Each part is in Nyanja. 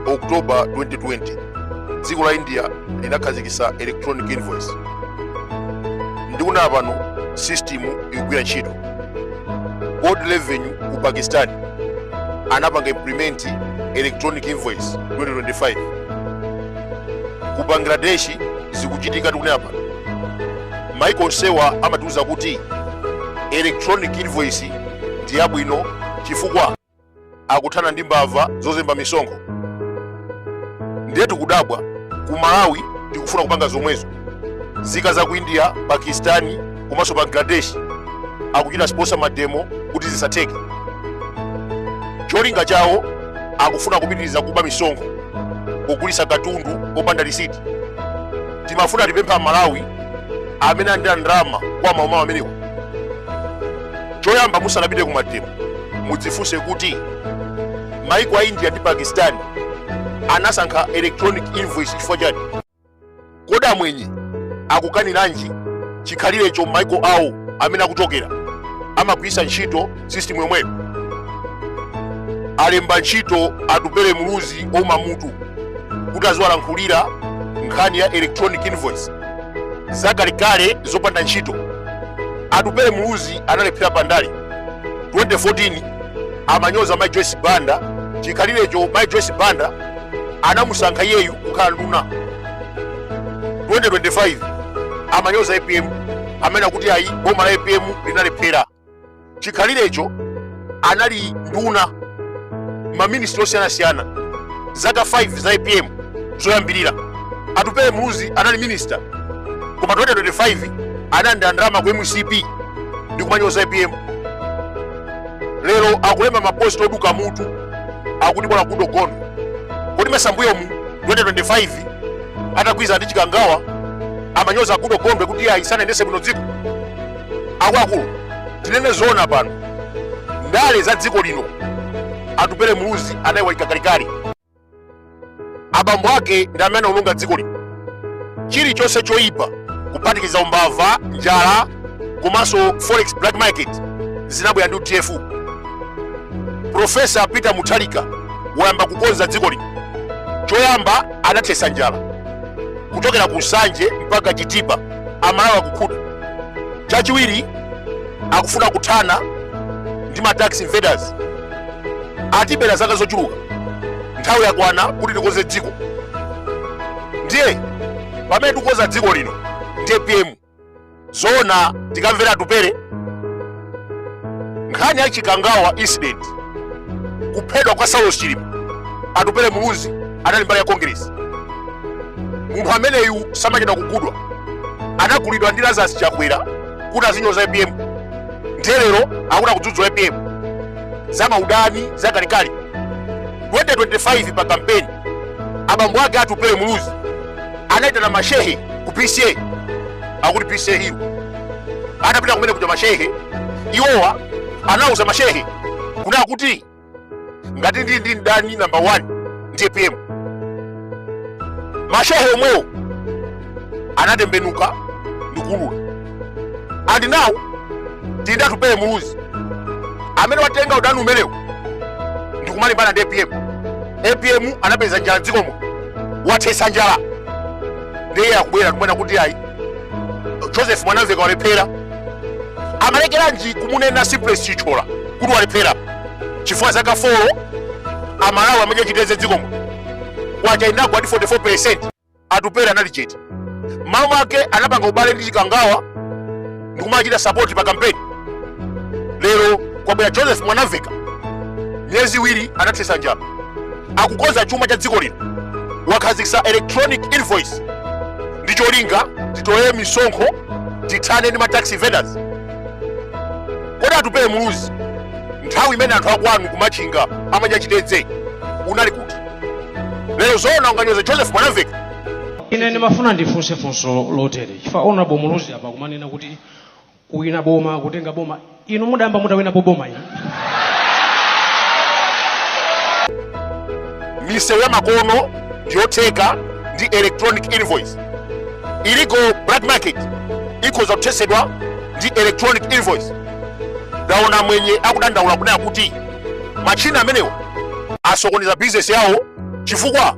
october 2020 dziko la india linakhazikitsa electronic invoice ndikunena pano system ikugwira ntchito Board Revenue ku pakistan anapanga implement electronic invoice 2025 ku bangladesh zikuchitika tikunena pano maiko onsewa amatiuza kuti electronic invoice ndi yabwino chifukwa akuthana ndi mbava zozemba misonkho ndiye tikudabwa ku malawi tikufuna kupanga zomwezo nzika za ku india pakistani komanso bangladesh akuchita sponsor mademo kuti zisatheke cholinga chawo akufuna kupitiriza kuba misonkho kugulitsa katundu popanda lisiti timafuna tipemphe amalawi amene alandira ndalama kwa mauma-wo amenewo choyamba musanapite ku mademo mudzifunse kuti maiko a india ndi pakistan anasankha electronic invoice chifukwa chani kodi amwenye akukaniranji chikhalirecho mmaiko awo amene akuchokera amagwiritsa ntchito system yomweyo alemba ntchito atupele muluzi wouma mutu kuti aziwalankhulira nkhani ya electronic invoice zakalekale zopanda ntchito atupele muluzi analephera pandale 2014 amanyoza mai joyce banda chikhalirecho mai joyce banda anamusankha iyeyu kukhala nduna 2025 amanyoza apm amene akuti ayi boma la apm linalephera chikhalirecho anali nduna maministri osiyanasiyana zaka 5 za apm zoyambirira atupele muluzi anali minista koma 2025 analandira ndalama ku mcp ndi kumanyoza apm lero akulemba maposti oduka mutu akuti agalu agondwe kodi mmasambuyo mu 2025 atagwirizana ndi chikangawa amanyoza a goodall gondwe kuti ayi sanayendese bwino dziko akuluakulu tinene zoona pano ndale za dziko lino atupele muluzi anayiwalika kalekale abambo ake ndi amene anaononga dziko lino chilichonse choyipa kuphatikiza umbava njala komanso forex black market zinabwera ndi udf profesa peter mutharika wayamba kukonza dziko lino choyamba anathesa njala kuchokera ku nsanje mpaka chitipa amalawi akukhuta chachiwiri akufuna kuthana ndi ma tax invaders atibera zaka zochuluka nthawi yakwana kuti tikonze dziko ndiye pamene tikukonza dziko lino ndi apm zoona tikamvera atupere nkhani ya chikangawa incident kuphedwa kwa saulos chilima atupele muluzi anali mbali ya congress munthu ameneyu samachedwa kugulidwa anagulidwa ndi lazarus chakwera kuti azinyoza apm ndiye lero akuti akudzudzula apm za maudani za kalekale 2025 pa kampeni abambo ake atupele muluzi anaitana mashehe ku pca akuti pca hiyo atapita kumene kuja mashehe iwowa anauza mashehe kunena kuti ngati ndili ndi mdani namba 1 ndi apm mashehe omwewo anatembenuka ndikuulula and now ndi atupele muluzi amene watenga udani umenewo ndikumalimbana ndi apm apm anapeza njala mdziko muno wathesa njala ndiye akubwera kumanena kuti ayi joseph mwanamveka walephera amalekeranji kumunena simplex chithyola kuti walephera chifukwa zaka 4 amalawi amadya chitedze dziko muno kwacha inagwa ndi 44 percent atupele anali chete mmawa mwake anapanga ubale ndi chikangawa ndikumachita sapoti pa kampeni lero kwabwera joseph mwanamveka miyezi iwiri wathetsa njala akukonza chuma cha dziko lino wakhazikitsa electronic invoice ndi cholinga titole misonkho tithane ndi ma tax evaders kodi atupele muluzi nthawi imene anthu akwanu kumachinga amadya chitedze unali kuti lero zoona unganyoza joseph mwanamveka ine ndimafuna ndifunse funso lotere chifukwa honorable muluzi apa kumanena kuti kuwina boma kutenga boma inu mudayamba mutawinapo boma iyi misewu ya makono ndiyotheka ndi electronic invoice illegal black market ikhoza kuthetsedwa ndi electronic invoice ndaona amwenye akudandaula kunena kuti machina amenewo asokoneza bizinesi yawo chifukwa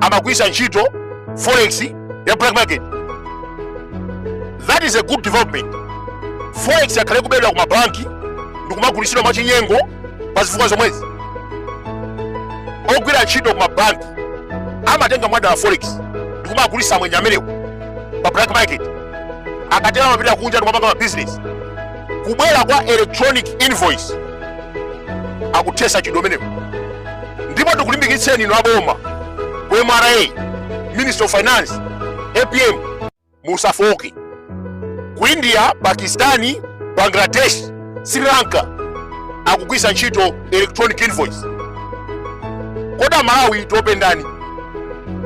amagwiritsa ntchito forex ya black market that is a good development forex yakhala ikubedwa ku mabanki ndi kumagulitsidwa mwachinyengo pa zifukwa zomwezi ogwira ntchito ku mabanki amatenga mwadala forex ndi kumagulitsa amwenye amenewo pa black market akatero amapita kunja ndi kumapanga mabizinesi kubwera kwa electronic invoice kuthetsa mchitidwe umenewu ndipo tikulimbikitseni inu aboma ku mra ministry of finance apm musafooke ku india pakistani bangladesh sri lanka akugwisa ntchito electronic invoice kodi amalawi tiopa ndani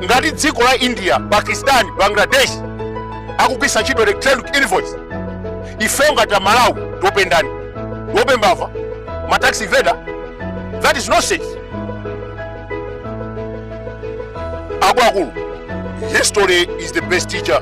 ngati dziko la india pakistani bangladesh akugwisa ntchito electronic invoice ife ngati amalawi tiope ndani tiope mbava ma tax evader that is nonsense akuluakulu history is the best teacher